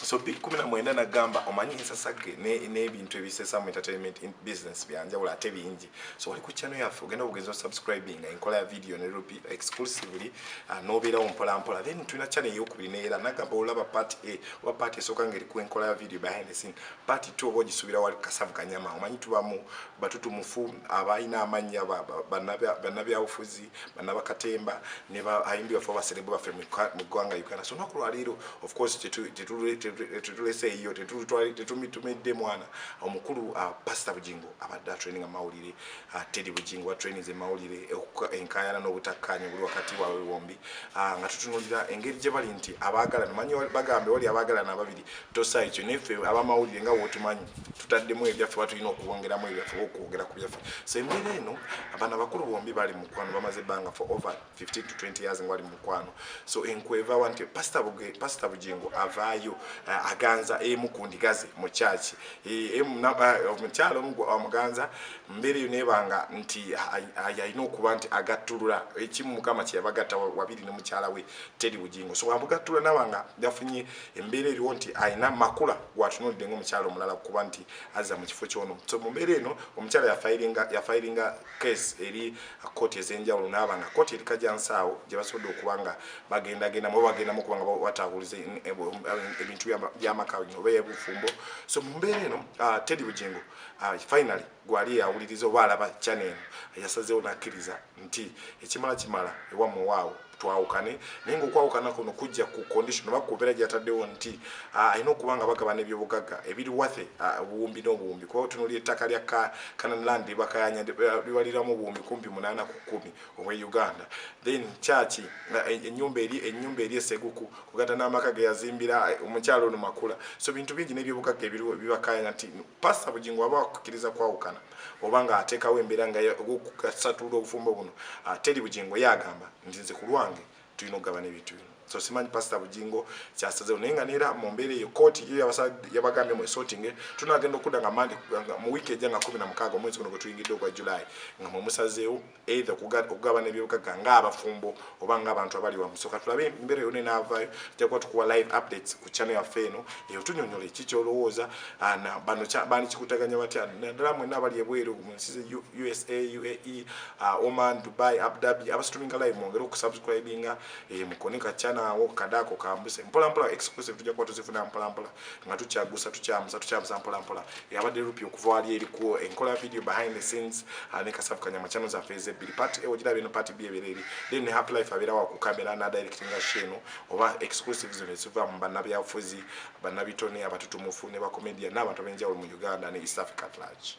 so big kumi na mwenda nagamba omanyi ensasage n'ebintu ebisesa mu entertainment in business byanjawulo ate bingi so wali ku channel yaffe ogenda bugenzi o subscribing enkola ya video ne rupi exclusively uh, nobeerawo mpolampola then tulina channel eyokubiri neera nagamba olaba part a oba part esooka ngeri ku enkola ya video behind the scene part two oba ogisubira wali kasavu kanyama omanyi tubamu batutumufu abalina amannya bannabyabufuzi banaba katemba ne ba ayimbi bafo ba celeb baffe mu gwanga Uganda so naku lwaliro of course tetu tetu tetu lese iyo tetu twali tetu mitumedde mwana omukulu uh, pastor bujingo abadde training amawulire uh, teddy bujingo wa training ze mawulire enkayana no butakanya buli wakati wa wombi uh, nga tutunulira engeri je bali nti abagala manyi bagambe wali abagala na babiri tosa ekyo neffe abamawulire nga wotumanyi tutaddemu ebyaffe batulina okuwongeramu ebyaffe okwogera ku byaffe so embeera eno abaana bakulu bombi bali mukwano bamaze ebbanga for over 15 to 20 years ngwali mukwano so enkwevawa nti pasita bugingo avaayo eh, aganza emu ku ndigaze mu kyaki eh, eh, omukyalo omuganza mbeera eyo nebanga nti alina okuba nti agattulula ekimu mukama kyeyabagatta wabiri ne mukyala we teri bugingo so amugattula nabanga yafunye embeera eriwo nti alina makula gwatunulidde ngaomukyala omulala kuba nti azza mu kifo kyono so mu mbeera eno omukyala yafayiringa case eri kooti ez'enjawulo naaba nga kooti eri kajansaawo gye basobodde okuba nga bagendagenda muba bagendamu okuba nga batabuliza ebintu by'amaka oba ebufumbo so mu mbeera eno ah, teddy bugingo ah, finally Gwali eyawuliriza oba alaba channel eno yasazeewo nakkiriza nti ekimala kimala ewammwe waawo twawukane naye ngaokwawukana kuno kujja ku condition oba kubeera gyataddewo nti ah, alina okuba nga bagabana ebyobugagga ebiri wathe ah, obuwumbi n'obuwumbi kuba otunuli ettaka lya canan land libakayanya eh, libaliramu obuwumbi kumpi munaana ku kumi obwe uganda then kyaki eh, enyumba eri enyumba eri eseguku kugata n'amaka geyazimbira eh, omukyalo ono makula so bintu bingi n'ebyobugagga ebiriwo bibakayana nti pasta bugingo waba wakukiriza kwawukana oba nga ateekawo embeera nga okugasatulula obufumbo buno ah, teri bugingo yagamba nti nze ku lwange tulina okugabana ebintu bino so simanyi pasta bugingo kyasazewo naye nga neera mu mbeera eyo kooti yo yabagambye mwesotinge tunagenda okudda nga mandi mu wiiki ejja nga kumi na mukaaga omwezi guno gwe tuyingidde ogwa julayi nga mwemusazeewo either okugabana ebyobugaga ng'abafumbo oba ng'abantu abali wamu so katulabe embeera yona enaavaayo tujakuba tukuwa live updates ku channel yaffe eno eyo tunyonyola eki kyolowooza bano bani kikutaganya batya naddala mwena abali ebweru mu nsi ze usa uae uh, oman dubai abdabi abasituminga live mwongere okusubscribinga eh, mukone ka channel awo kadaako kambuse mpolampola exclusive tujakuba tuzifuna mpolampola nga tukyagusa tukyamusa tukyamusa mpola mpola yabadde rupi okuva wali erikuwo enkola video behind the scenes ah, ne kasafu kanyama channel zaffe ezebbiri part ewo giraba eno part b ebeera eri then ne happy life abeera wa ku kamera nadirectinga sheno oba exclusive zino eziva mu bannabyabufuzi bannabitone abatutumufu ne bacomedian n'abantu ab'enjawulo mu uganda ne east africa at large